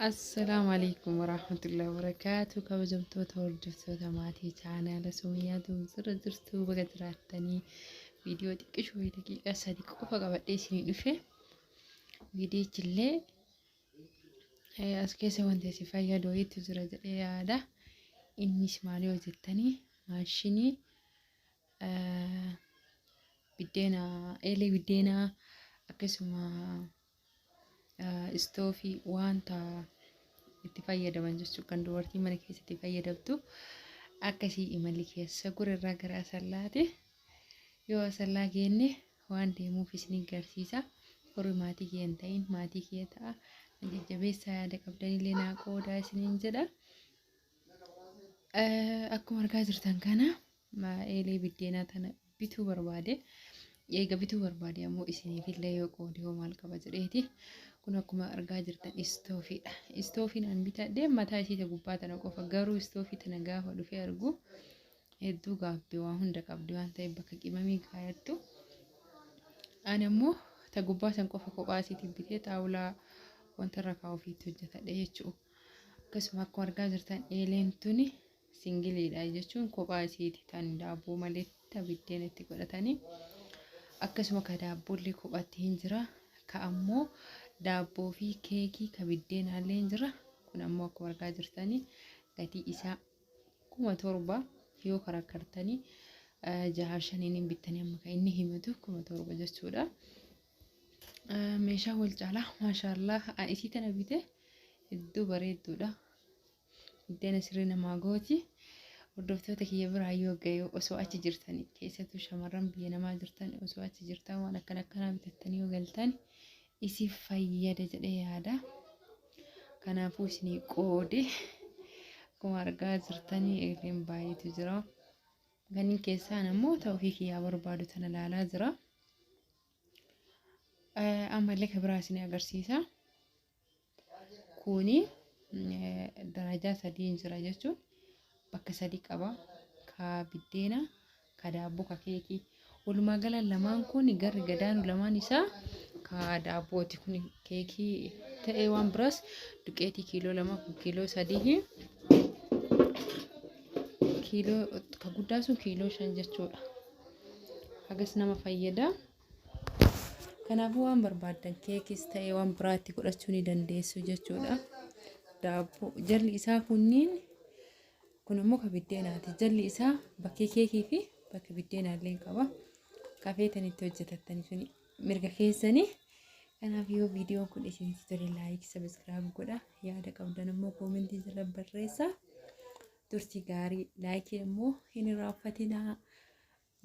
Assalaamu alaikum warahmatullahi wabarakaatu kabajamtoota hordoftoota maatii chaanaala Sumayyaa Doomsirra jirtu baga jiraattanii viidiyoo xiqqishoo fi daqiiqaa sadi qofa qabadhee isinii dhufe viidiyichillee eh, as keessa wanti isin fayyadu wayiitu jira jedhee yaada innis maali hojjettanii maashinii eh, biddeena eelee biddeenaa akkasuma istoofii wanta itti fayyadaman jechuudha kan dubartiin mana keessatti fayyadamtu akkasii imalli keessa gurrarraa gara asallaati yoo asallaa geenne waan deemuuf isin garsiisa warri maatii kee hin ta'in maatii kee ta'a na jajjabeessaa yaada qabdanillee naa qoodaa isiniin jedha akkuma argaa jirtan kana Ismaa'eelii biddeenaa tana bituu barbaade. Eega bituu barbaade ammoo isiniifillee yoo qoode hoo maal qaba jedheeti. Kun akkuma argaa jirtan istoofiidha. Istoofiin an bitadhe mataa isii ta gubbaa tana qofa garuu istoofii tana gaafa dhufee argu hedduu gaabbe waa hunda qabdi waan ta'eef bakka qimamii kaayattu. Ani ammoo ta gubbaa san qofa kophaa isiitiin bitee xaawulaa wanta irra kaa'uufiitti hojjetadhe jechuudha. Akkasuma akkuma argaa jirtan eeleen tuni singiliidha jechuun kophaa isiiti tan daabboo malee ta biddeena itti godhatanii akkasuma ka daabboollee kophaatti hin jira ka ammoo daabboo fi keekii ka biddeenaallee hin jira kun ammoo akkuma argaa jirtanii gatii isaa kuma torba yoo karakkartanii eh, jaha shaniin hin bittanii amma kan inni himatu kuma torba jechuudha. Eh, Meeshaa wal caalaa maashaallah isii tana bite hedduu bareedduudha. Buddeen asirri namaa gooti. Hordoftoota kiyya biraa yoo ga'e osoo achi jirtan keessattuu shamarran biyya namaa jirtan osoo achi jirtan waan akkana akkanaa bitattanii yoo galtan isiif fayyada jedhee yaada. Kanaafuu isinii qoode akkuma argaa jirtanii eegleen baay'eetu jira. Kanneen keessaan ammoo ta'uu fi kiyyaa barbaadu tana ilaalaa jira. Ammallee kan biraa isinii agarsiisa. Kuni darajaa sadiin jira jechuun bakka sadii qaba. Ka biddeena, ka daabboo, ka keekii. Walumaa gala lamaan kun garri gadaanu lamaan isaa ka daabbooti. Kun keekii ta'ee waan biraas duqeetii kiiloo lama kun kiiloo sadii kiiloo ka guddaa sun kiiloo shan jechuudha. Hagas nama fayyada. Kanaafuu waan barbaaddan keekis ta'ee waan biraa itti godhachuu ni dandeessu jechuudha. Daabboo jalli isaa kunniin kun immoo ka biddeenaati. Jalli isaa bakkee keekii fi bakki biddeenaa illee qaba. Kafeetan itti hojjetattan sun mirga keessanii. Kanaaf yoo viidiyoon kun isinitti tole laayik sabiskiraayib godha. Yaada qabdan immoo koomentii jala barreessaa. turtii gaarii laayikii immoo hin irraanfatinaa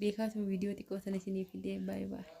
beekaatu viidiyoo xiqqoo sana isinii fidee baay'ee baay'ee.